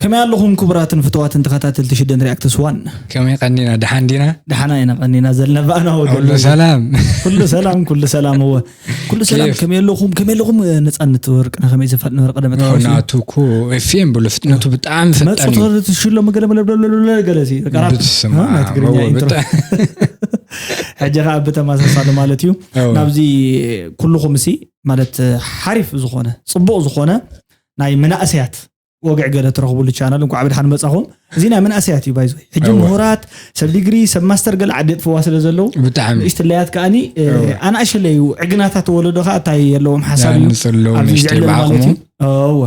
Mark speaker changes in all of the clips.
Speaker 1: ከመይ ኣለኹም ክቡራትን ፍትዋትን ተኸታተልቲ ሽደን ሪያክትስ ዋን ከመይ ቀኒና ደሓን
Speaker 2: ዲና ደሓና ኢና ቀኒና ዘለና
Speaker 1: ባእና ወገሉ ሰላም
Speaker 2: ኩሉ ሰላም ኩሉ
Speaker 1: ሰላም እወ ኩሉ ሰላም ከመይ ኣለኹም ከመይ ኣለኹም ነፃነት ወርቅና ከመይ ዘፋል ነበረ ቀደመ ናቱ እኮ
Speaker 2: ኤፍኤም ብሎ ፍጥነቱ ብጣዕሚ ፈጣን እዩ መፅቶ ትሽሎ መገለ
Speaker 1: መለብለብለብለ ገለሲ ናይ ትግርኛ ኢንትሮ ሕጂ ከዓ ብተመሳሳሊ ማለት እዩ ናብዚ ኩልኹም ሲ ማለት ሓሪፍ ዝኾነ ፅቡቕ ዝኾነ ናይ መናእሰያት ወግዕ ገለ ትረኽብሉ ቻናል እንኳዕ ብድሓን መፃኹም እዚ ናይ መናእሰያት እዩ ባይዞ ሕጂ ምሁራት ሰብ ዲግሪ ሰብ ማስተር ገለ ዓዲ የጥፍዋ ስለ ዘለዉ ብጣዕሚ ንእሽትለያት
Speaker 2: ከዓኒ
Speaker 1: ኣናእሸለ እዩ ዕግናታት ወለዶ ከዓ እንታይ የለዎም ሓሳብ እዩ ኣብዚ ዝዕለል ማለት እዩ እወ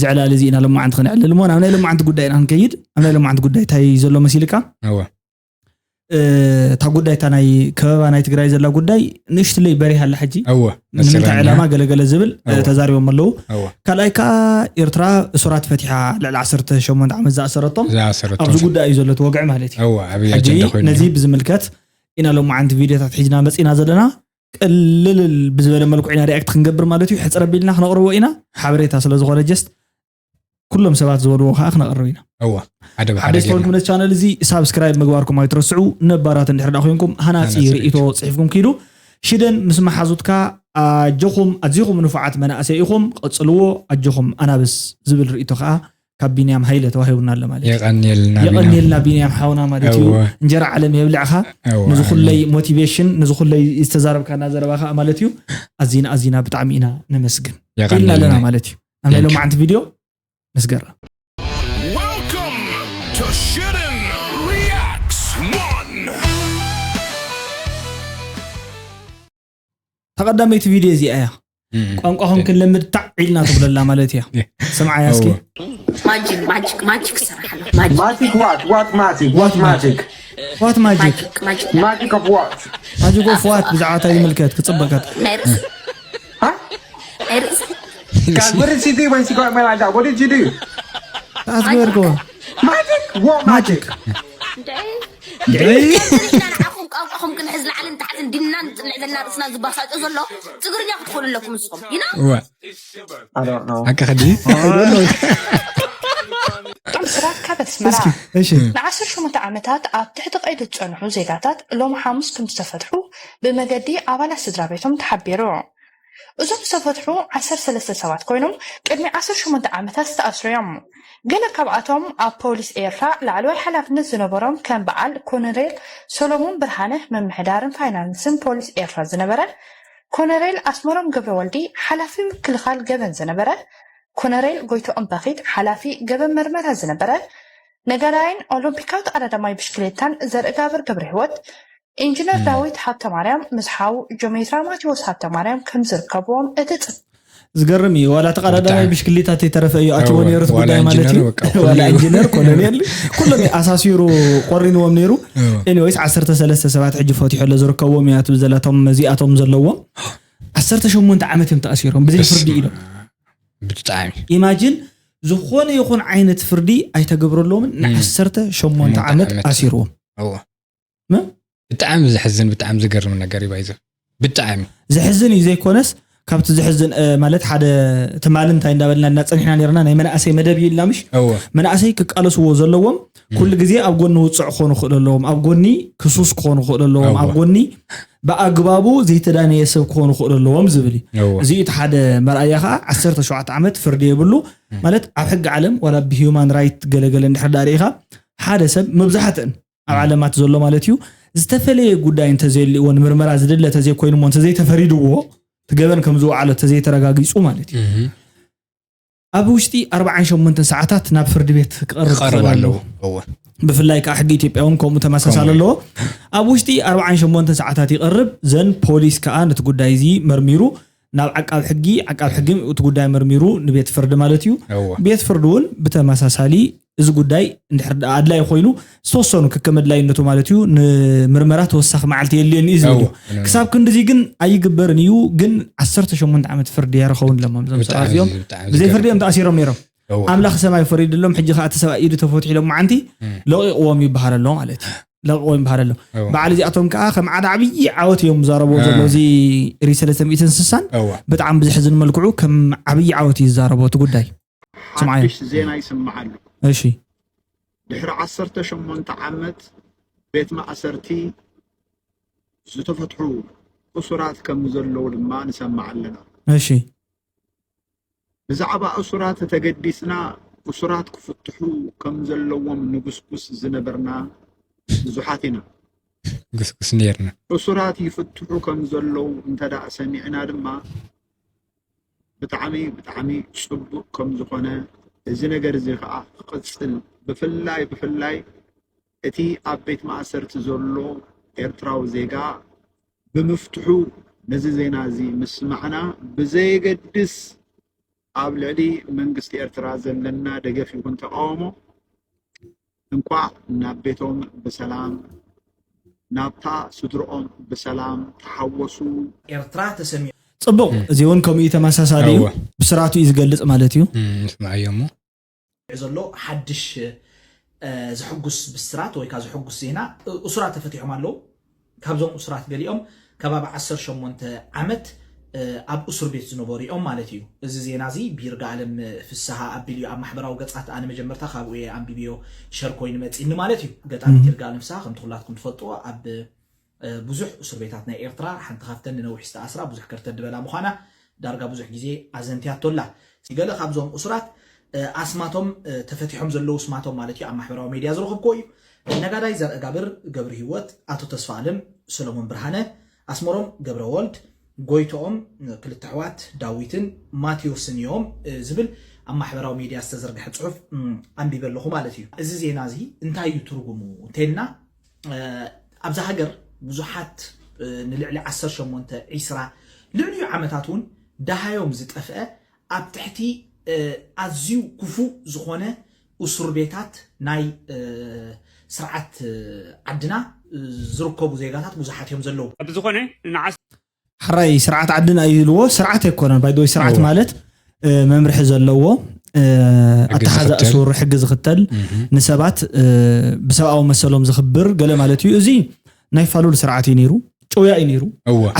Speaker 1: ዝዕላል እዚ ኢና ሎማዓንቲ ክነዕልል እሞ ናብ ናይ ሎማዓንቲ ጉዳይ ኢና ክንከይድ ኣብ ናይ ሎማዓንቲ ጉዳይ እንታይ ዘሎ መሲልካ እታ ጉዳይ እታ ናይ ከበባ ናይ ትግራይ ዘላ ጉዳይ ንእሽትለይ በሪሃ ኣላ ሕጂ እወ ንምንታይ መሰለኛ። ዕላማ ገለገለ ዝብል እወ። ተዛሪቦም ኣለዉ እወ ካልኣይ ከዓ ኤርትራ እሱራት ፈቲሓ ልዕሊ 18 ዓመት ዝኣሰረቶም ዝኣሰረቶም ኣብዚ ጉዳይ እዩ ዘሎ እቲ ወግዒ ማለት እዩ ኣወ ዓብዪ ሕጂ ኣጀንዳ ኮይኑ ነዚ
Speaker 2: ብዝምልከት
Speaker 1: ኢና ሎማዓንቲ ቪድዮታት ሒዝና መፂና ዘለና ቅልልል ብዝበለ መልክዑ ኢና ሪኣክት ክንገብር ማለት እዩ ሕፅር ኣቢልና ክነቕርቦ ኢና ሓበሬታ ስለዝኾነ ጀስት ኩሎም ሰባት ዝበልዎ ከዓ ክነቕርብ ኢና እወ ሓደ ብሓደ ሓደሽ ጌርና
Speaker 2: ተኮንኩም ነቲ ቻነል
Speaker 1: እዚ ሳብስክራይብ ምግባርኩም ኣይትረስዑ ነባራት እንድሕር ዳ ኮይንኩም ሃናፂ ሃናፂ ርእይቶ ርእይቶ። ፅሒፍኩም ኪዱ ሽደን ምስ መሓዙትካ ኣጆኹም ኣዚኹም ንፉዓት መናእሰይ ኢኹም ቐፅልዎ ኣጆኹም ኣናብስ ዝብል ርእይቶ ከዓ ካብ ቢንያም ሃይለ ተዋሂቡና ኣሎ ማለት እዩ የቐንየልና ቢና የቐንየልና ቢንያም ሓውና ማለት እዩ እወ እንጀራ ዓለም የብልዕኻ እወ ነዚ ኩለይ ሞቲቬሽን ነዚ ኩለይ ዝተዛረብካና ዘረባ ከዓ ማለት እዩ ኣዚና ኣዚና ብጣዕሚ ኢና ነመስግን ኢልና ኣለና የቐንየልና ማለት እዩ ኣብ ናይ ሎማዓንቲ ቪድዮ
Speaker 3: መስገራ
Speaker 1: ተቐዳመይቲ ቪድዮ እዚኣ እያ ቋንቋኹም ክንለምድ ታዕ ኢልና ትብለላ ማለት እያ ስምዓያ እስኪ
Speaker 4: ዋት ማጂክ
Speaker 1: ማጂክ ኦፍ ዋት ብዛዕባ እንታይ ይምልከት ክፅበቀት
Speaker 4: Guys, what did she do when she got away like that? What did you do? Asgurgo. Magic? What magic?
Speaker 1: ንዓኹም ቋንቋኹም ክንሕዝ
Speaker 4: ላዕልን ታሕትን ድናን
Speaker 5: ልዕልና ርእስና
Speaker 4: ዝባሳጮ ዘሎ ትግርኛ ክትኾኑ
Speaker 2: ኣለኩም ንስኹም
Speaker 6: ይና ኣካኸዲ ጥምስራት ካብ ኣስመራ ንዓሰርተ ሸሞንተ ዓመታት ኣብ ትሕቲ ቀይዲ ዝፀንሑ ዜጋታት ሎሚ ሓሙስ ከም ዝተፈትሑ ብመገዲ ኣባላት ስድራቤቶም ተሓቢሩ። እዞም ዝተፈትሑ ዓሰርተ ሰለስተ ሰባት ኮይኖም ቅድሚ ዓሰርተ ሸሞንተ ዓመታት ዝተኣስሩ እዮም። ገለ ካብኣቶም ኣብ ፖሊስ ኤርትራ ላዕለዋይ ሓላፍነት ዝነበሮም ከም በዓል ኮነሬል ሰሎሞን ብርሃነ ምምሕዳርን ፋይናንስን ፖሊስ ኤርትራ ዝነበረ ኮነሬል ኣስመሮም ገብረወልዲ ሓላፊ ምክልኻል ገበን ዝነበረ ኮነሬል ጎይትኦም በኺት ሓላፊ ገበን መርመራ ዝነበረ ነጋዳይን ኦሎምፒካዊት ቀዳዳማይ ብሽክሌታን ዘርእጋብር ገብረሂወት፣ ኢንጅነር ዳዊት ሃብተማርያም ምስ ሓው ጆሜትራ ማቴዎስ ሃብተማርያም ከም ዝርከብዎም እቲ ጽ ዝገርም እዩ
Speaker 1: ዋላ ተቀዳዳማይ ብሽክሊታ ተይተረፈ እዩ ኣትዎ ነይሩ እቲ ጉዳይ ማለት እዩ ዋላ ኢንጂነር ኮሎኔል ኩሎም እዩ ኣሳሲሩ ቆሪንዎም ነይሩ ኤኒዌይስ ዓሰርተ ሰለስተ ሰባት ሕጂ ፈትሖሎ ዝርከብዎም እያ ትብል ዘላቶም መዚኣቶም ዘለዎም ዓሰርተ ሸሞንተ ዓመት እዮም ተኣሲሮም ብዘይ ፍርዲ ኢሎም ብጣዕሚ።
Speaker 2: ኢማጂን
Speaker 1: ዝኾነ ይኹን ዓይነት ፍርዲ ኣይተገብረሎምን ን ዓሰርተ ሸሞንተ ዓመት ኣሲርዎም። እወ ም
Speaker 2: ብጣዕሚ ዘሕዝን ብጣዕሚ ዝገርም ነገር እዩ ባይዘ ብጣዕሚ። ዘሕዝን እዩ
Speaker 1: ዘይኮነስ ካብቲ ዘሕዝን እ፣ ማለት ሓደ ትማሊ እንታይ እንዳበልና እና ጸኒሕና ኔርና ናይ መናእሰይ መደብ እዩ ኢልና ምሽ? እወ መናእሰይ ክቃለስዎ ዘለዎም ኩሉ ግዜ ኣብ ጎኒ ውፅዕ ክኾኑ ክእሉ ኣለዎም ኣብ ጎኒ ክሱስ ክኾኑ ክእሉ ኣለዎም ኣብ ጎኒ ብኣግባቡ ዘይተዳነየ ሰብ ክኾኑ ክእሉ ኣለዎም ዝብል እዩ እዚ እቲ ሓደ መርኣያ ከዓ 17 ዓመት ፍርዲ የብሉ ማለት ኣብ ሕጊ ዓለም ዋላ ብሂማን ራይት ገለገለ እንድሕር ዳ ርኢኻ ሓደ ሰብ መብዛሕትእን ኣብ ዓለማት ዘሎ ማለት እዩ ዝተፈለየ ጉዳይ እንተዘየልዎ ንምርመራ ዝድለ ተዘይኮይኑሞ እንተዘይተፈሪድዎ ትገበን ከም ዝወዓሎ ተዘይተረጋጊፁ ማለት እዩ ኣብ ውሽጢ ኣርብዓን ሸሞንተን ሰዓታት ናብ ፍርዲ ቤት ክቐርብ ክቐርብ ክኽእል ኣለዎ ኣለዎ እወ ብፍላይ ከዓ ሕጊ ኢትዮጵያ እውን ከምኡ ተመሳሳሊ ከምኡ እዩ። ኣለዎ ኣብ ውሽጢ ኣርብዓን ሸሞንተን ሰዓታት ይቐርብ ዘን ፖሊስ ከዓ ነቲ ጉዳይ እዚ መርሚሩ ናብ ዓቃብ ሕጊ ዓቃብ ሕጊ እቲ ጉዳይ መርሚሩ ንቤት ፍርዲ ማለት እዩ እወ ቤት ፍርዲ እውን ብተመሳሳሊ እዚ ጉዳይ እንድሕር ደኣ ኣድላይ ኮይኑ ዝተወሰኑ ከከም ኣድላይነቱ ማለት እዩ ንምርመራ ተወሳኺ መዓልቲ የድልየኒ እዩ ዝብል እዩ ክሳብ ክንድዚ ግን ኣይግበርን እዩ ግን 18 ዓመት ፍርዲ የረኸውን ለሞም እዞም ሰባት እዚኦም ብዘይ ፍርዲ እዮም ተኣሲሮም ነይሮም ኣምላኽ ሰማይ ፈሪድሎም ሕጂ ከዓ እቲ ሰብኣይ ኢዱ ተፈትሑ ኢሎም መዓንቲ ለቂቕዎም ይበሃል ኣሎ ማለት እዩ ለቂቕዎም ይበሃል ኣሎ በዓል እዚኣቶም ከዓ ከም ዓደ ዓብዪ ዓወት እዮም ዝዛረብዎ ዘሎ እዚ ሪ ሰለስተ ሚእትን ስሳን ብጣዕሚ ብዝሕዝን መልክዑ ከም ዓብዪ ዓወት እዩ ዝዛረቦ እቲ ጉዳይ ሓድሽ
Speaker 7: ዜና ይስማዕ ኣሎ። እሺ
Speaker 1: ድሕሪ
Speaker 7: ዓሰርተ ሸሞንተ ዓመት ቤት ማእሰርቲ ዝተፈትሑ እሱራት ከም ዘለዉ ድማ ንሰማዕ ኣለና። እሺ ብዛዕባ እሱራት ተገዲስና እሱራት ክፍትሑ ከም ዘለዎም ንጉስጉስ ዝነበርና ብዙሓት ኢና።
Speaker 2: ጉስጉስ ነርና። እሱራት ይፍትሑ
Speaker 7: ከም ዘለዉ እንተደኣ ሰሚዕና ድማ ብጣዕሚ ብጣዕሚ ጽቡቅ ከም ዝኮነ እዚ ነገር እዚ ከኣ ክቅጽል ብፍላይ ብፍላይ እቲ ኣብ ቤት ማእሰርቲ ዘሎ ኤርትራዊ ዜጋ ብምፍትሑ ነዚ ዜና እዚ ምስማዕና ብዘየገድስ ኣብ ልዕሊ መንግስቲ ኤርትራ ዘለና ደገፍ ይኩን ተቃውሞ እንቋዕ ናብ ቤቶም ብሰላም ናብታ ስድርኦም ብሰላም ተሓወሱ። ኤርትራ ተሰሚዑ።
Speaker 1: ጽቡቕ እዚ ውን ከምኡ እዩ ተመሳሳሊ እዩ ብስራቱ እዩ ዝገልጽ ማለት እዩ። ንስምዓዮ እሞ።
Speaker 2: ተሰሚዑ ዘሎ
Speaker 1: ሓድሽ ዘሕጉስ ብስራት ወይካ ዘሕጉስ ዜና እሱራት ተፈቲሖም ኣለዉ ካብዞም እሱራት ገሊኦም ከባቢ ዓሰርተ ሸሞንተ ዓመት ኣብ እሱር ቤት ዝነበሩ እዮም ማለት እዩ። እዚ ዜና እዚ ብይርጋኣለም ፍስሃ ኣቢሉ እዩ ኣብ ማሕበራዊ ገጻት ኣነ መጀመርታ ካብኡ እየ ኣንቢበዮ ሸር ኮይኑ መጺኒ ማለት እዩ። ገጣሚት ይርጋኣለም ፍስሃ ከምቲ ኩላትኩም ትፈልጥዎ ኣብ ብዙሕ እሱር ቤታት ናይ ኤርትራ ሓንቲ ካብተን ንነዊሕ ዝተኣስራ ብዙሕ ከርተት ድበላ ምዃና ዳርጋ ብዙሕ ግዜ ኣዘንትያቶ ኣላ። እስቲ ገለ ካብዞም እሱራት ኣስማቶም ተፈቲሖም ዘለዉ ስማቶም ማለት እዩ ኣብ ማሕበራዊ ሜድያ ዝረኸብክዎ እዩ። ነጋዳይ ዘርእጋብር ገብርሂወት፣ ኣቶ ተስፋኣለም፣ ሰሎሞን ብርሃነ፣ ኣስመሮም ገብረወልድ፣ ጎይትኦም፣ ክልተ ኣሕዋት ዳዊትን ማትዮስን እዮም ዝብል ኣብ ማሕበራዊ ሜድያ ዝተዘርግሐ ጽሑፍ ኣንቢበ ኣለኹ ማለት እዩ። እዚ ዜና እዚ እንታይ እዩ ትርጉሙ እንተይልና፣ ኣብዛ ሃገር ብዙሓት ንልዕሊ ዓሰርተ ሸሞንተ ዒስራ ልዕሊኡ ዓመታት እውን ደሃዮም ዝጠፍአ ኣብ ትሕቲ ኣዝዩ ክፉእ ዝኾነ እሱር ቤታት ናይ ስርዓት ዓድና ዝርከቡ ዜጋታት ብዙሓት እዮም ዘለዉ። ብዝኾነ ንዓሰርተ
Speaker 8: ሕራይ
Speaker 1: ስርዓት ዓድን ኣይህልዎ ስርዓት ኣይኮነን ባይደወይ ስርዓት ማለት መምርሒ ዘለዎ ኣተሓዛ እሱር ሕጊ ዝኽተል ንሰባት ብሰብኣዊ መሰሎም ዝኽብር ገለ ማለት እዩ እዚ ናይ ፋሉል ስርዓት እዩ ነይሩ ጨውያ እዩ ነይሩ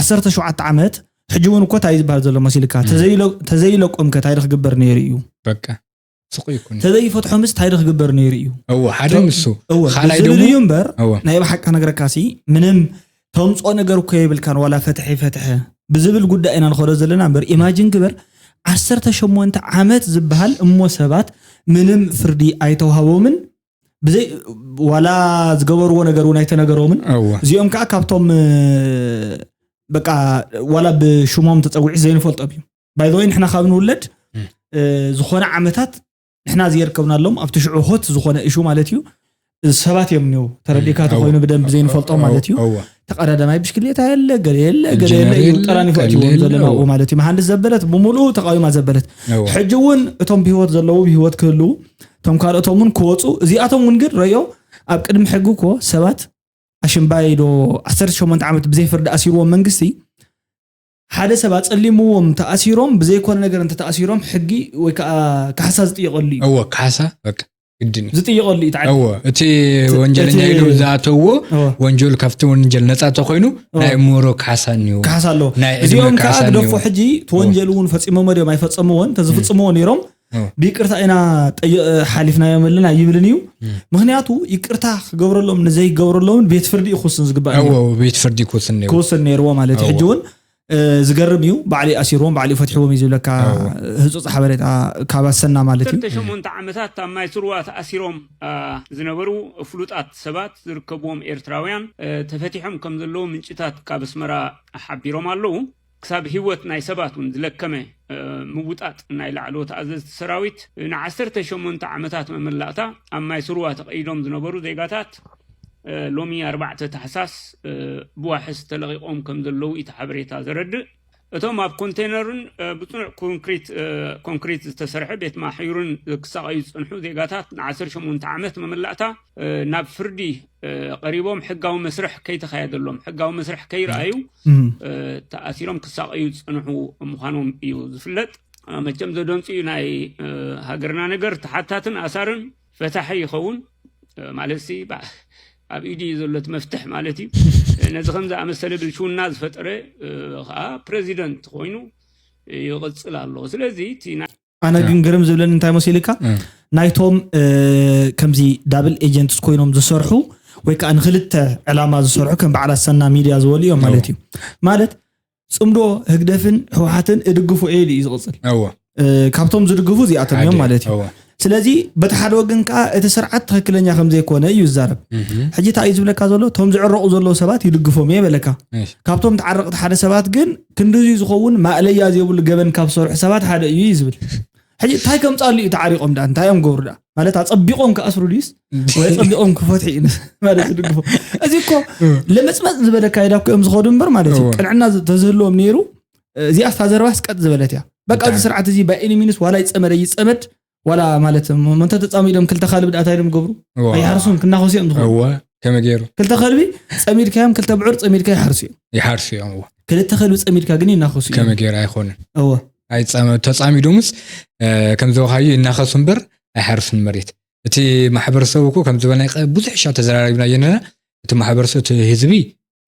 Speaker 1: ዓሰርተ ሸውዓተ ዓመት ሕጂ እውን እኮ እንታይ ዝበሃል ዘሎ መሲልካ ተዘይለቆምከ እንታይ ክግበር ነይሩ እዩ
Speaker 2: ስቕ ይኩን ተዘይፈትሖምስ ታይ ዶ
Speaker 1: ክግበር ነይሩ እዩ እወ ሓደ ቶ- ንሱ
Speaker 2: እወ ካልኣይ ብዝብል እዩ ደግሞ
Speaker 1: እምበር እወ ናይ ብሓቂ ክነግረካ ሲ ምንም ተምፆ ነገር እኮ የብልካን ዋላ ፈትሐ ፈትሐ ብዝብል ጉዳይ ኢና ንኸዶ ዘለና እምበር ኢማጅን ግበር 18 ዓመት ዝበሃል እሞ ሰባት ምንም ፍርዲ ኣይተዋህቦምን ብዘይ ዋላ ዝገበርዎ ነገር እውን ኣይተነገሮምን እወ እዚኦም ከዓ ካብቶም እ፣ በቃ ዋላ ብሽሞም ተፀዊዒ ዘይንፈልጦም እዩ ባይ ዘወይ ንሕና ካብ ንውለድ ዝኾነ ዓመታት ንሕና ዝየርከብናሎም ኣብቲ ሽዑ ሆት ዝኾነ እሹ ማለት እዩ ሰባት እዮም ኒው ተረዲእካ ተኮይኑ ብደንብ ዘይንፈልጦም ማለት እዩ ተቀዳዳማይ ብሽክሌታ የለ ገለ የለ ገለ የለ እዩ ጠራኒፎ እትዎም ዘለና ማለት እዩ መሃንድስ ዘበለት ብምሉኡ ተቃዊማ ዘበለት ሕጂ እውን እቶም ብሂወት ዘለዉ ብሂወት ክህልው እቶም ካልኦቶም እውን ክወፁ እዚኣቶም እውን ግን ረዮ ኣብ ቅድሚ ሕጊ እኮ ሰባት ኣሽምባይ ዶ 18 ዓመት ብዘይ ፍርዲ ኣሲርዎም መንግስቲ ሓደ ሰብ ኣጸሊምዎም እንተ ኣሲሮም ብዘይኮነ ነገር እንተ ተኣሲሮም ሕጊ ወይ ከኣ ካሕሳ ዝጥየቀሉ እዩ። እወ ካሕሳ
Speaker 2: በቃ ግድን እዩ። ዝጥየቀሉ እዩ እቲ ዓዲ። እወ
Speaker 1: እቲ እቲ-
Speaker 2: ወንጀለኛ እቲ- ኢሉ ዝኣተዎ እወ። ወንጀሉ ካብቲ ወንጀል ነጻ ተኮይኑ ናይ እምሮ ካሕሳ እኒዎ ካሕሳ ኣለዎ ናይ ዕድመ እዚኦም
Speaker 1: ከዓ ካሕሳ ግደፎ እኒዎ ሕጂ ተወንጀሉ እውን ፈፂሞሞ ድዮም ኣይፈፀምዎን ተዝፍፅምዎ ነይሮም ብይቅርታ ኢና ሓሊፍናዮም ኣለና ይብልን እዩ ምክንያቱ ይቅርታ ክገብረሎም ንዘይገብረሎምን ቤት ፍርዲ እዩ ክውስን ዝግባእ ቤት ፍርዲ
Speaker 2: ክውስን ነይርዎ ማለት እዩ ሕጂ
Speaker 1: እውን ዝገርም እዩ ባዕሊ ኣሲርዎም ባዕሊ ፈትሕዎም እዩ ዝብለካ ህፁፅ ሓበሬታ ካብ ኣሰና ማለት እዩ ሸሞንተ ዓመታት ኣብ
Speaker 8: ማይ ስርዋ ተኣሲሮም ዝነበሩ ፍሉጣት ሰባት ዝርከብዎም ኤርትራውያን ተፈቲሖም ከም ዘለዉ ምንጭታት ካብ ኣስመራ ሓቢሮም ኣለዉ ክሳብ ህይወት ናይ ሰባት እውን ዝለከመ ምውጣጥ ናይ ላዕለዎት ኣዘዝቲ ሰራዊት ን ዓሰርተ ሸሞንተ ዓመታት መመላእታ ኣብ ማይ ስርዋ ተቐይዶም ዝነበሩ ዜጋታት ሎሚ ኣርባዕተ ታሕሳስ ብዋሕስ ተለቒቖም ከም ዘለዉ እቲ ሓበሬታ ዘረድእ እቶም ኣብ ኮንቴነርን ብፅኑዕ ኮንክሪት ኮንክሪት ዝተሰርሐ ቤት ማሕዩርን ክሳቐዩ ዝፀንሑ ዜጋታት ን ዓሰርተ ሸሞንተ ዓመት መመላእታ ናብ ፍርዲ ቀሪቦም ሕጋዊ መስርሕ ከይተካየደሎም ሕጋዊ መስርሕ ከይረኣዩ ተኣሲሮም ክሳቀዩ ዝፀንሑ ምዃኖም እዩ ዝፍለጥ መቸም ዘደንፅ እዩ ናይ ሃገርና ነገር ተሓታትን ኣሳርን ፈታሒ ይኸውን ማለት ሲ ኣብ ኢድ እዩ ዘሎት መፍትሕ ማለት እዩ ነዚ ከም ዝኣመሰለ ብልሽውና ዝፈጠረ ከዓ ፕረዚደንት ኮይኑ ይቕፅል ኣሎ ስለዚ ኣነ
Speaker 1: ግን ግርም ዝብለኒ እንታይ መሲልካ ናይቶም እ፣ ከምዚ ዳብል ኤጀንትስ ኮይኖም ዝሰርሑ ወይ ከዓ ንክልተ ዕላማ ዝሰርሑ ከም በዓል ኣሰና ሚድያ ዝበሉ እዮም ማለት እዩ ማለት ፅምዶ ህግደፍን ህወሓትን እድግፉ እየ ኢሉ እዩ ዝቕፅል እወ እ፣ ካብቶም ዝድግፉ እዚኣቶም እዮም ማለት እዩ እወ ስለዚ በቲ ሓደ ወገን ከዓ እቲ ስርዓት ትክክለኛ ከምዘይኮነ እዩ ዝዛረብ እህም፣ ሕጂ እንታይ እዩ ዝብለካ ዘሎ እቶም ዝዕረቑ ዘለዉ ሰባት ይድግፎም እየ በለካ እሺ፣ ካብቶም ተዓረቕቲ ሓደ ሰባት ግን ክንድዙይ ዝኸውን ማእለያ ዘይብሉ ገበን ካብ ዝሰርሑ ሰባት ሓደ እዩ እዩ ዝብል ሕጂ እንታይ ከምፃሉ እዩ ተዓሪቆም ዳ እንታይ እዮም ገብሩ ዳ ማለት ኣፀቢቆም ክኣስሩ ድዩስ ወይ ፀቢቆም ክፈትሑ እዩ ማለት ዝድግፎ እዚ እኮ ለመፅመፅ ዝበለ ካይዳ እኮ እዮም ዝኸዱ እምበር ማለት እዩ ቅንዕና ተዝህልዎም ነይሩ እዚኣ ስታ ዘረባስ ቀጥ ዝበለት እያ በቃ እዚ ስርዓት እዚ ባይ ኤኒ ሚንስ ዋላ ይፀመደ ይፀመድ ዋላ ማለት እንተ ተፃሚዶም ክልተ ካልቢ ድኣ እንታይ እዮም ዝገብሩ ኣይሓርሱን ክናኸሱ እዮም ዝኸኑ እወ ከመይ ገይሩ ክልተ
Speaker 2: ከልቢ
Speaker 1: ፀሚድካዮም ክልተ ብዑር ፀሚድካ ይሓርሱ እዮም ይሓርሱ እዮም እወ ክልተ ከልቢ ፀሚድካ ግን ይናኸሱ እዮም ከመይ ገይሩ ኣይኮነን
Speaker 2: እወ ኣይፃመ- ተፃሚዶምስ እ፣ ከም ዝበልካዮ ይናኸሱ እምበር ኣይሓርሱን መሬት እቲ ማሕበረሰብ እኮ ከም ዝበልናይ ቀ- ብዙሕ ሻ ተዘራሪብና የነና እቲ ማሕበረሰብ እቲ ህዝቢ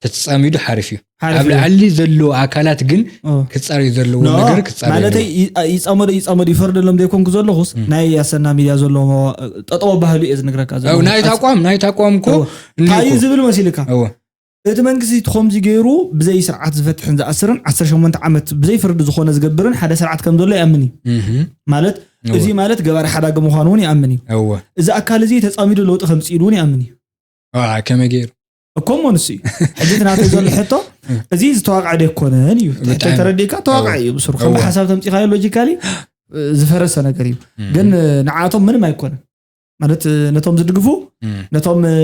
Speaker 2: ተተፃሚዱ ሓሪፍ እዩ ሓሪፍ ኣብ እዩ። ላዕሊ ዘለዎ ኣካላት ግን ኦ። ክፃረዩ ዘለዎ ኖ፣ ነገር ክፃረዩ ማለተይ ኣለዎ። ይ-
Speaker 1: ይፃመዱ ይፃመዱ ይፈርደሎም ዘይኮንኩ ዘለኹስ ናይ ኣሰና ሚድያ ዘለዎ ጠጠወ ባህሉ እየ ዝነግረካ ዘለኹ። ኣብ ናይቲ ኣቋም ናይቲ ኣቋም
Speaker 2: እኮ እወ። እኒኦ እንታይ እዩ እኮ። ዝብል
Speaker 1: መሲልካ እወ። እቲ መንግስቲ እቲ ከምዚ ገይሩ ብዘይ ስርዓት ዝፈትሕን ዝኣስርን 18 ዓመት ብዘይ ፍርዲ ዝኾነ ዝገብርን ሓደ ስርዓት ከም ዘሎ ይኣምን እዩ እህም። ማለት እወ። እዚ ማለት ገባሪ ሓዳጊ ምዃኑ እውን ይኣምን እዩ እወ። እዚ ኣካል እዚ ተፃሚዱ ለውጢ ከምፅኢሉ እውን ይኣምን እዩ ዋ፣ ከመይ
Speaker 2: ገይሩ እኮ እሞ ንሱ እዩ
Speaker 1: ሕጂ እቲ ናተይ ዘሎ ሕቶ እዚ ዝተዋቅዐ ደይኮነን እዩ ትሕቶ ብጣዕሚ። ተረዲእካ ተዋቅዐ እዩ ብስሩ ከም እወ። ሓሳብ ተምፂኻዮ ሎጂካሊ ዝፈረሰ ነገር እዩ ግን ንዓቶም ምንም ኣይኮነን ማለት እ፣ ነቶም ዝድግፉ እም፣ ነቶም እ፣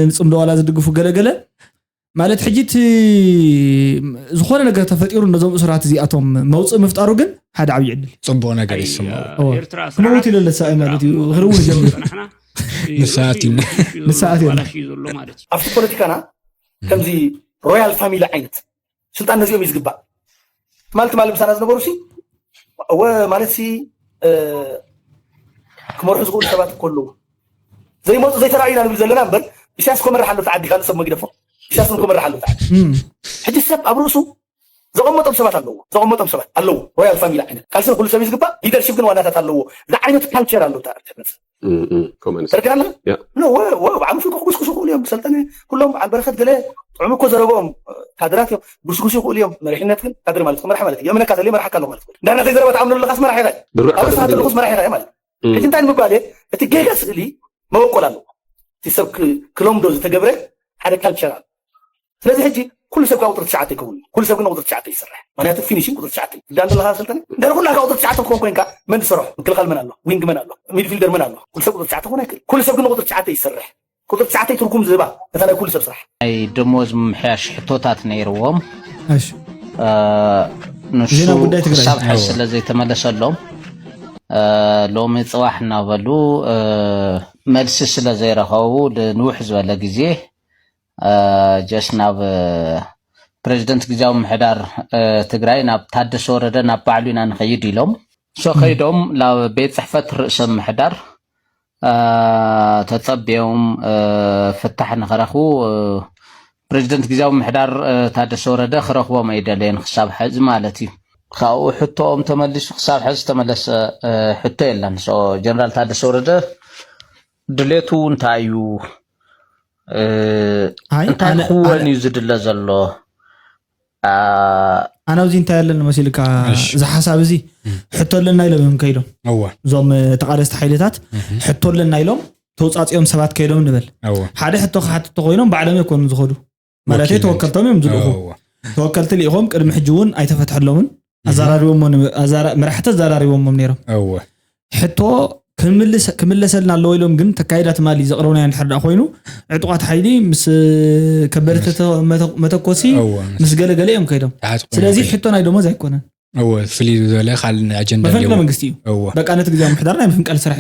Speaker 1: ንፅምዶ ዋላ ዝድግፉ ገለገለ ማለት ሕጂ እቲ ዝኾነ ነገር ተፈጢሩ ነዞም እሱራት እዚኣቶም መውፅእ ምፍጣሩ ግን ሓደ ዓብዪ ዕድል እዩ ፅቡቅ ነገር ይስምዑ
Speaker 2: እወ። ኤርትራ ክመውት ኢለ
Speaker 1: ለሳኢ ማለት እዩ ክርውን ጀሚሩ ፅናሕና ንሰኣት ኢና ንሰኣት ኢና ኣባላሽ እዩ ዘሎ ማለት
Speaker 8: እዩ ኣብቲ ፖለቲካና
Speaker 9: ከምዚ ሮያል ፋሚሊ ዓይነት ስልጣን ነዚኦም እዩ ዝግባእ ትማል ትማል ምሳና ዝነበሩ ሲ እወ ማለት ሲ ክመርሑ ዝኽእሉ ሰባት እኮ ኣለዉ ዘይመፁ ዘይተረኣዩ ኢና ንብል ዘለና እምበር ኢሳያስ ኮመራሕ ኣሎ ዓዲ ካልእ ሰብ መግደፎ ኢሳያስ ን ኮመራሕ ኣሎ ዓዲ ሕጂ ሰብ ኣብ ርእሱ ዘቐመጦም ሰባት ኣለዎ ዘቐመጦም ሰባት ኣለዎ ሮያል ፋሚሊ ዓይነት ቃልሲ ንኩሉ ሰብ እዩ ዝግባእ ሊደርሺፕ ግን ዋናታት ኣለዎ ዝዓይነቱ ካልቸር ኣሎ ተረዲና ኣለና ብዓል ሙፍቲ ክጉስጉሱ ይኽእሉ እዮም ሰልጠነ ኩሎም በዓል በረከት ገለ ጥዑም እኮ ዘረበኦም ካድራት እዮም ጉስጉሱ ይኽእሉ እዮም መሪሕነት ግን ካድሪ ማለት መራሕ ማለት እዩ እምነካ ዘለ መርሓካ ኣሎ ማለት እንዳና ከይዘረባ ተኣምነሉ ለካስ መራሕ ኢኻ ኣብርሳ ተልኹስ መራሕ ኢኻ ማለት ሕጂ እንታይ ንምባል እየ እቲ ጌጋ ስእሊ መበቆል ኣለዎ እቲ ሰብ ክለምዶ ዝተገብረ ሓደ ካልቸር ኣሎ ስለዚ ሕጂ ኩሉ ሰብ ካብ ቁፅሪ ትሽዓተ ይከውን እዩ ኩሉ ሰብ ግን ቁፅሪ ትሽዓተ ይስራሕ ምክንያቱ ፊኒሽን ቁፅሪ ትሽዓተ እዩ ዳን ዘለካ ስልጠነ እንድሕር ኩላካ ቁፅሪ ትሽዓተ ክኾን ኮንካ መን ዝሰርሖ ምክልኻል መን ኣሎ ዊንግ መን ኣሎ ሚድፊልደር መን ኣሎ ኩሉ ሰብ ቁፅሪ ትሽዓተ ክኾን ኣይክእል ኩሉ ሰብ ግን ቁፅሪ ትሽዓተ ይስራሕ ቁጽሪ ትሽዓተይ ትርጉም ዝህባ እታ ናይ ኩሉ ሰብ ስራሕ። ናይ ደሞዝ
Speaker 10: ምምሕያሽ ሕቶታት ነይርዎም
Speaker 1: ንሱ
Speaker 10: ክሳብ ሕዚ ስለ ዘይተመለሰሎም ሎሚ ፅባሕ እናበሉ መልሲ ስለ ዘይረኸቡ ንውሕ ዝበለ ግዜ ጀስ ናብ ፕሬዚደንት ግዜያዊ ምሕዳር ትግራይ ናብ ታደሰ ወረደ ናብ ባዕሉ ኢና ንኸይድ ኢሎም ሶ ከይዶም ናብ ቤት ፅሕፈት ርእሰ ምሕዳር ተጸብዮም ፍታሕ ንክረኽቡ ፕረዚደንት ግዝያዊ ምምሕዳር ታደሰ ወረደ ክረኽቦም ኣይደለየን ክሳብ ሐዚ ማለት እዩ። ካብኡ ሕቶኦም ተመሊሱ ክሳብ ሐዚ ዝተመለሰ ሕቶ የለን። ጀነራል ታደሰ ወረደ ድሌቱ እንታይ እዩ? እንታይ ክወን እዩ ዝድለ ዘሎ?
Speaker 1: ኣነ ኣብዚ እንታይ ኣለኒ መሲልካ እዚ ሓሳብ እዚ ሕቶ ኣለና ኢሎም እዮም ከይዶም እዞም ተቃለስቲ ሓይልታት ሕቶ ኣለና ኢሎም ተውፃፂኦም ሰባት ከይዶም ንበል ሓደ ሕቶ ክሓትቶ ኮይኖም ባዕሎም የኮኑ ዝኸዱ ማለት ተወከልቶም እዮም ዝልእኹ ተወከልቲ ልኢኾም ቅድሚ ሕጂ እውን ኣይተፈትሐሎምን ኣዘራሪቦሞ መራሕቲ ኣዘራሪቦሞም ነይሮም ሕቶ ክምለሰልና ኣለዎ ኢሎም ግን ተካይዳ ትማሊ ዘቕረብናዮ እንድሕር ደኣ ኮይኑ ዕጡቓት ሓይሊ ምስ ከበድቲ መተኮሲ ምስ ገለገለ እዮም ከይዶም ስለዚ ሕቶ ናይ ደሞዝ ኣይኮነን ፍልይ ዝበለ
Speaker 2: ካልእ ኣጀንዳ መፈንቅለ መንግስቲ እዩ
Speaker 1: በቃ ነቲ ግዜ ምሕዳር ናይ ምፍንቀል ስራሕ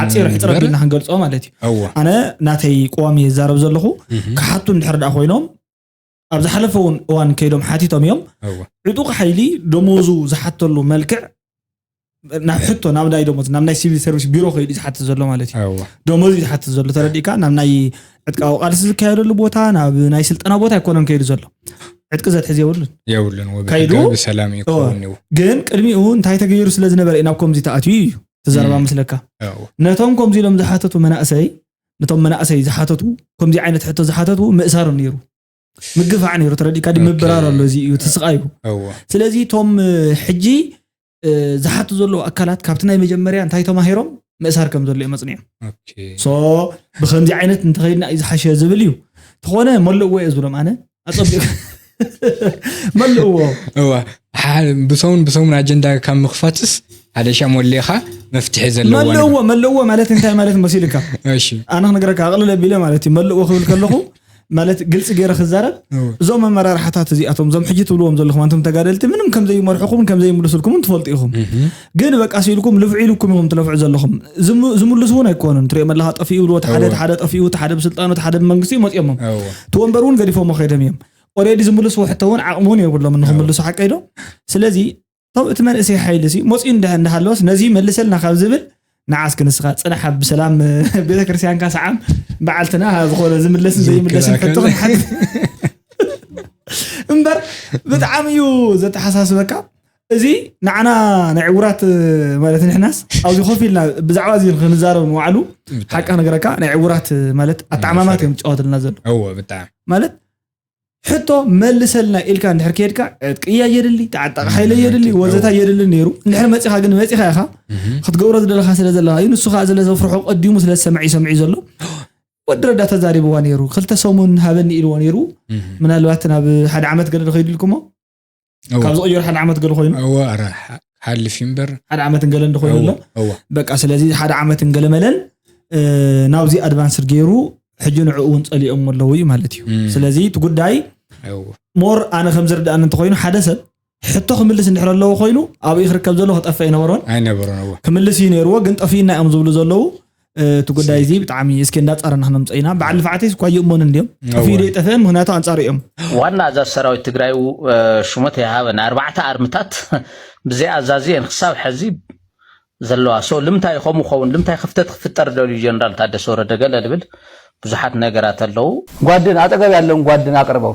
Speaker 1: ሓፂር ሕፅረ ቢልና ክንገልፆ ማለት እዩ ኣነ ናተይ ቆዋም እየ ዝዛረብ ዘለኹ ክሓቱ እንድሕር ደኣ ኮይኖም ኣብ ዝሓለፈ እውን እዋን ከይዶም ሓቲቶም እዮም ዕጡቕ ሓይሊ ደሞዙ ዝሓተሉ መልክዕ ናብ ሕቶ ናብ ናይ ደሞዝ ናብ ናይ ሲቪል ሰርቪስ ቢሮ ከይዱ ዝሓትት ዘሎ ማለት እዩ ደሞዝ እዩ ዝሓትት ዘሎ ተረዲእካ ናብ ናይ ዕጥቃዊ ቃልሲ ዝካየደሉ ቦታ ናብ ናይ ስልጠና ቦታ ኣይኮነን ከይዱ ዘሎ ዕጥቂ ዘትሕዝ የብሉን የብሉን ከይዱ
Speaker 2: ብሰላም ይከውን ግን ቅድሚኡ
Speaker 1: እንታይ ተገይሩ ስለ ዝነበረ እዩ ናብ ከምዚ ተኣትዩ እዩ ትዘረባ ምስለካ ነቶም ከምዚ ኢሎም ዝሓተቱ መናእሰይ ነቶም መናእሰይ ዝሓተቱ ከምዚ ዓይነት ሕቶ ዝሓተቱ ምእሳር ነይሩ ምግፋዕ ነይሩ ተረዲካ ዲ ምብራር ኣሎ እዚ እዩ ትስቃዩ ስለዚ እቶም ሕጂ ዝሓቱ ዘለዉ ኣካላት ካብቲ ናይ መጀመርያ እንታይ ተማሂሮም ምእሳር ከም ዘሎ እዮም መፅኒዮም ሶ ብከምዚ ዓይነት እንተኸይድና እዩ ዝሓሸ ዝብል እዩ ተኾነ መለዎ እየ ዝብሎም ኣነ ኣፀቢቑ መለእዎ እወ ሓ-
Speaker 2: ብሰሙን ብሰሙን ኣጀንዳ ካብ ምኽፋትስ ሓደ ሻም ወሊኻ መፍትሒ ዘለዎ ነገር። መለእዎ መለእዎ ማለት እንታይ
Speaker 1: ማለት መሲልካ እሺ ኣነ
Speaker 2: ክነገረካ ኣቕልል
Speaker 1: ኣቢለ ማለት እዩ መለእዎ ክብል ከለኹ ማለት ግልፂ ገይረ ክዛረብ እወ። እዞም ኣመራርሓታት እዚኣቶም እዞም ሕጂ ትብልዎም ዘለኹም ኣንቶም ተጋደልቲ ምንም ከምዘይመርሑኹምን ከምዘይምልሱልኩምን ትፈልጡ ኢኹም ግን በቃ ሲኢልኩም ልፍዒ ኢልኩም ኢኹም ትለፍዑ ዘለኹም ዝምልሱ እውን ኣይኮኑን ትሪኦም ኣለኻ ጠፊኡ ይብልዎ እቲ ሓደ እቲ ሓደ ጠፊኡ እቲ ሓደ ብስልጣኑ እቲ ሓደ ብመንግስቲ መፂኦሞም እቲ ወንበር እውን ገዲፎሞ ከይዶም እዮም ኦሬዲ ዝምልስዎ ሕቶ እውን ዓቕሚ እውን የብሎምን ንክምልሱ ሓቀይ ዶ ስለዚ እቲ መንእሰይ ሓይሊ መፂኡ እንዳሃለወስ ነዚ መልሰልና ካብ ዝብል ንዓ እስኪ ንስኻ ጽናሕ ብሰላም ቤተክርስትያንካ ሰዓም በዓልትና ዝኾነ ዝምለስን ዘይምለስን ሕቶ ክንሓት እምበር ብጣዕሚ እዩ ዘተሓሳስበካ እዚ ንዓና ናይ ዕውራት ማለት ንሕናስ ኣብዚ ኮፍ ኢልና ብዛዕባ እዚ ክንዛረብ ንባዕሉ ሓቂ ነገረካ ናይ ዕውራት ማለት ኣተዓማማት እዮም ዝጫወትልና ዘሎ ማለት ሕቶ መልሰልና ኢልካ እንድሕር ከድካ ዕጥቅያ የድሊ ተዓጣቂ ሓይለ የድሊ ወዘታ የድሊ ነይሩ እንድሕር መፂኻ ግን መፂኻ ኢኻ ክትገብሮ ዝደለካ ስለ ዘለካ እዩ ንሱ ከዓ ስለዘፍርሖ ቀዲሙ ስለ ዝሰምዐ ይሰምዒ ዘሎ ወዲ ረዳ ተዛሪብዋ ነይሩ ክልተ ሰሙን ሃበኒ ኢልዎ ነይሩ ምናልባት ናብ ሓደ ዓመት ገለ ከይድልኩሞ ካብ ዝቕየሩ ሓደ ዓመት ገለ ኮይኑ እወ ኣረ ሓልፍ
Speaker 2: እዩ እምበር ሓደ ዓመት እንገለ እንደ ኮይኑ
Speaker 1: ኣሎ በቃ ስለዚ ሓደ ዓመት እንገለ መለል ናብዚ ኣድቫንስድ ገይሩ ሕጂ ንዕኡ እውን ፀሊኦም ኣለዉ እዩ ማለት እዩ ስለዚ እቲ ጉዳይ ሞር ኣነ ከም ዝርዳእኒ እንተኮይኑ ሓደ ሰብ ሕቶ ክምልስ እንድሕር ኣለዎ ኮይኑ ኣብኡ ክርከብ ዘለዎ ክጠፍእ ኣይነበሮን ኣይነበሮን ክምልስ
Speaker 2: እዩ ነይርዎ ግን
Speaker 1: ጠፊእና እዮም ዝብሉ ዘለዉ እቲ ጉዳይ እዚ ብጣዕሚ እስኪ እንዳፃረና ክነምፀ ኢና በዓል ልፍዓተይ እኳ ይእመኑ እንድዮም ጠፍኡ ይጠፍአ ምክንያቱ ኣንፃር እዮም ዋና ኣዛዝ ሰራዊት
Speaker 10: ትግራይ ሽሞት የሃበን ኣርባዕተ ኣርምታት ብዘይ ኣዛዚ እየን ክሳብ ሕዚ ዘለዋ ሶ ልምታይ ከምኡ ኸውን ልምታይ ክፍተት ክፍጠር ደልዩ ጀነራል ታደሰ ወረደ ገለ ልብል ብዙሓት ነገራት ኣለዉ ጓድን ኣጠገብ ያለውን ጓድን ኣቅርበው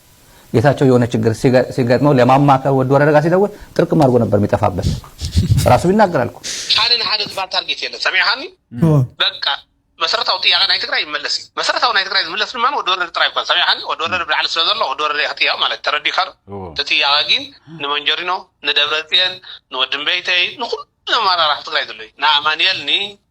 Speaker 10: ጌታቸው የሆነ ችግር ሲገጥመው ለማማ ከወድ ወረደ ጋር ሲደውል ጥርቅም አድርጎ ነበር የሚጠፋበት ራሱ ይናገራል እኮ ሓደ ንሓደ ዝባል
Speaker 11: ታርጌት የለን ሰሚዕኻኒ በቃ መሰረታዊ ጥያቄ ናይ ትግራይ ይመለስ እዩ መሰረታዊ ናይ ትግራይ ዝምለስ ድማ ወዲ ወረደ ጥራይ ይኮን ሰሚዕኻኒ ወዲ ወረደ ብላዕሊ ስለ ዘሎ ወዲ ወረደ ክጥያቕ ማለት ተረዲካ ዶ እቲ ጥያቄ ግን ንመንጀሪኖ ንደብረፅየን ንወድምበይተይ ንኩሉ ኣመራርሓ ትግራይ ዘሎ እዩ ንኣማንኤል ኒ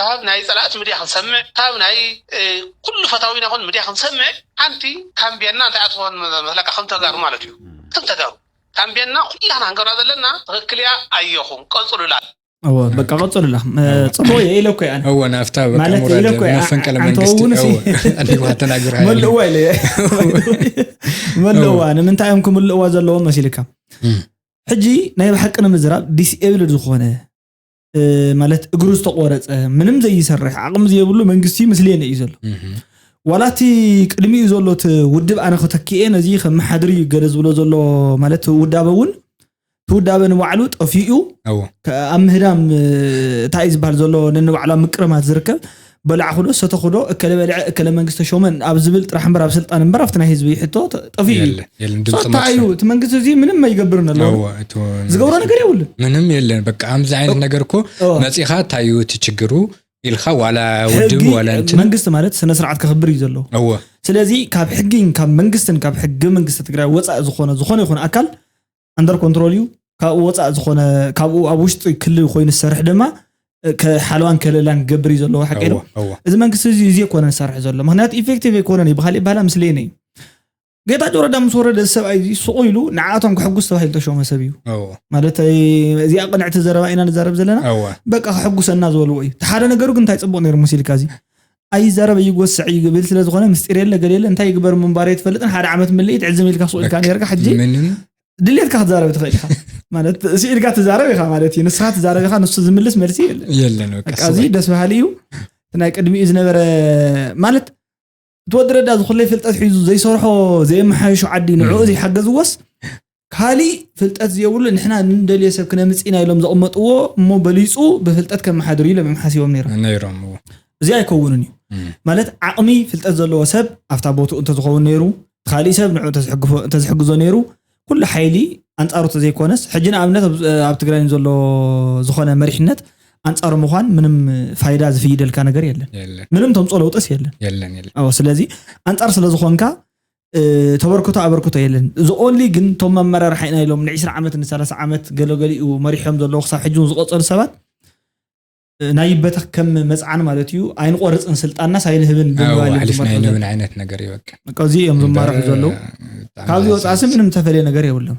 Speaker 11: ካብ ናይ ጸላእቲ ምድያ ክንሰምዕ ካብ ናይ ኩሉ ፈታዊና ኩን ምድያ ክንሰምዕ ሓንቲ ካምቤና እንታይ እያ ትኮን መስለካ ከም ተጋሩ ማለት እዩ ከም ተጋሩ ካምቤና ኩላህና ክንገብራ ዘለና ትክክል እያ ኣዮኩም ቀጽሉላ እወ በቃ
Speaker 1: ቀጽሉላ ጽቡቅ እየ ኢለ እኮ እየ ኣነ እወ ናፍታ በቃ ማለት
Speaker 2: ኢለ እኮ ሙራድ እየ መፈንቅለ ኣንተ መንግስቲ እውን እሲ እወ ኣሊዋ ተናግራ ያለ መልእዋ ኢለ እየ
Speaker 1: መልእዋ ንምንታይ እዮም ክምልእዋ ዘለዎም መሲልካ ሕጂ ናይ ብሓቂ ንምዝራብ ዲስኤብልድ ዝኾነ ማለት እግሩ ዝተቆረፀ ምንም ዘይሰርሕ ዓቕሚ ዘይብሉ መንግስቲ ምስሌነ እዩ ዘሎ ዋላ እቲ ቅድሚኡ ዘሎ እቲ ውድብ ኣነ ክተክኤ ነዚ ከመሓድር እዩ ገለ ዝብሎ ዘሎ ማለት ውዳበ እውን እቲ ውዳበ ንባዕሉ ጠፊኡ ኣብ ምህዳም እንታይ እዩ ዝበሃል ዘሎ ነንባዕሉ ኣብ ምቅርማት ዝርከብ በላዕኹዶ ሰተኹዶ እከለ በልዐ እከለ መንግስቲ ተሾመ ኣብ ዝብል ጥራሕ እምበር ኣብ ስልጣን እምበር ኣብቲ ናይ ህዝቢ ሕቶ ጠፊኡ እዩ የለን የለን ድምፂ ሶታ መጥፍኢ እዩ እቲ መንግስቲ እዚ ምንም ኣይገብርን ኣሎ እወ፣ እቲ ዝገብሮ ነገር የብሉን ምንም የለን በቃ
Speaker 2: ከምዚ ዓይነት ነገር እኮ እወ። መፂኻ እንታይ እዩ እቲ ችግሩ ኢልካ ዋላ ውድብ ሕጊ ዋላ እንትን መንግስቲ ማለት ስነ ስርዓት
Speaker 1: ከኽብር እዩ ዘለዎ እወ ስለዚ
Speaker 2: ካብ
Speaker 1: ሕጊን ካብ መንግስትን ካብ ሕገ መንግስቲ ትግራይ ወፃኢ ዝኾነ ዝኾነ ይኹን ኣካል ኣንደር ኮንትሮል እዩ ካብኡ ወፃእ ዝኾነ ካብኡ ኣብ ውሽጢ ክሊ ኮይኑ ዝሰርሕ ድማ ሓለዋን ከለላን ክገብር እዩ ዘለዎ ሓቂ ዶ እዚ መንግስቲ እዚ እዚ ኮነ ዝሰርሕ ዘሎ ምክንያቱ ኢፌክቲቭ ኣይኮነን እዩ ብካሊእ ባህላ ምስሌነ እዩ ጌታ ጆረዳ ምስ ወረደ እዚ ሰብኣይ እዚ ሱቁ ኢሉ ንዓቶም ክሕጉስ ተባሂሉ ተሸመ ሰብ እዩ ማለት እዚኣ ቅንዕቲ ዘረባ ኢና ንዛረብ ዘለና በቃ ክሕጉሰና ዝበልዎ እዩ ሓደ ነገሩ ግን እንታይ ፅቡቅ ነይሩ ሙሲልካ እዚ ኣይዛረብ ኣይጎስዕ እዩ ግብል ስለ ዝኮነ ምስጢር የለ ገለ የለ እንታይ ይግበር ምንባር ኣይትፈልጥን ሓደ ዓመት ምልኢት ዕዝም ኢልካ ሱቅ ኢልካ ነርካ ሕጂ ድሌትካ ክትዛረብ ትኽእል ኢኻ ማለት ስኢልካ ትዛረብ ኢኻ ማለት እዩ ንስኻ ትዛረብ ኢኻ ንሱ ዝምልስ መልሲ የለን እዚ
Speaker 2: ደስ በሃሊ እዩ
Speaker 1: ናይ ቅድሚኡ ዝነበረ ማለት ትወዲ ረዳ ዝኩለይ ፍልጠት ሒዙ ዘይሰርሖ ዘየመሓየሾ ዓዲ ንዕኡ ዘይሓገዝዎስ ካሊእ ፍልጠት ዝየብሉ ንሕና ንደልዮ ሰብ ክነምፅ ኢና ኢሎም ዘቕመጥዎ እሞ በሊፁ ብፍልጠት ከመሓድር እዩ ኢሎም እዮም ሓሲቦም ነይሮም። ነይሮም እዎ።
Speaker 2: እዚ ኣይከውንን
Speaker 1: እዩ። ማለት ዓቕሚ ፍልጠት ዘለዎ ሰብ ኣብታ ቦትኡ እንተዝኸውን ነይሩ፣ ኻሊእ ሰብ ንዕኡ እንተዝሕግፎ እንተዝሕግዞ ነይሩ፣ ኩሉ ሓይሊ ኣንፃሩ እንተዘይኮነስ፣ ሕጂ ንኣብነት ኣብ ኣብ ትግራይ ንዘሎ ዝኾነ መሪሕነት ኣንፃሩ ምዃን ምንም ፋይዳ ዝፍይደልካ ነገር የለን። የለን ምንም ተምፅኦ ለውጥስ የለን። የለን የለን። ኣዎ ስለዚ ኣንፃር ስለዝኾንካ ተበርክቶ ኣበርክቶ የለን እዚ ኦንሊ ግን ቶም ኣመራርሓ ኢና ኢሎም ንዒስራ ዓመት ንሰላሳ ዓመት ገለገሊኡ መሪሖም ዘለዉ ክሳብ ሕጂ ዝቆጸሩ ሰባት ናይ ይበተኽ ከም መፅዓን ማለት እዩ ኣይንቆርፅን ስልጣንናስ ኣይንህብን ብምባልንብን
Speaker 2: ዓይነት ነገር እዩ በቃ እዚ እዮም ዝማርሑ
Speaker 1: ዘለዉ ካብዚ ወፃእሲ ምንም ዝተፈለየ ነገር የብሎም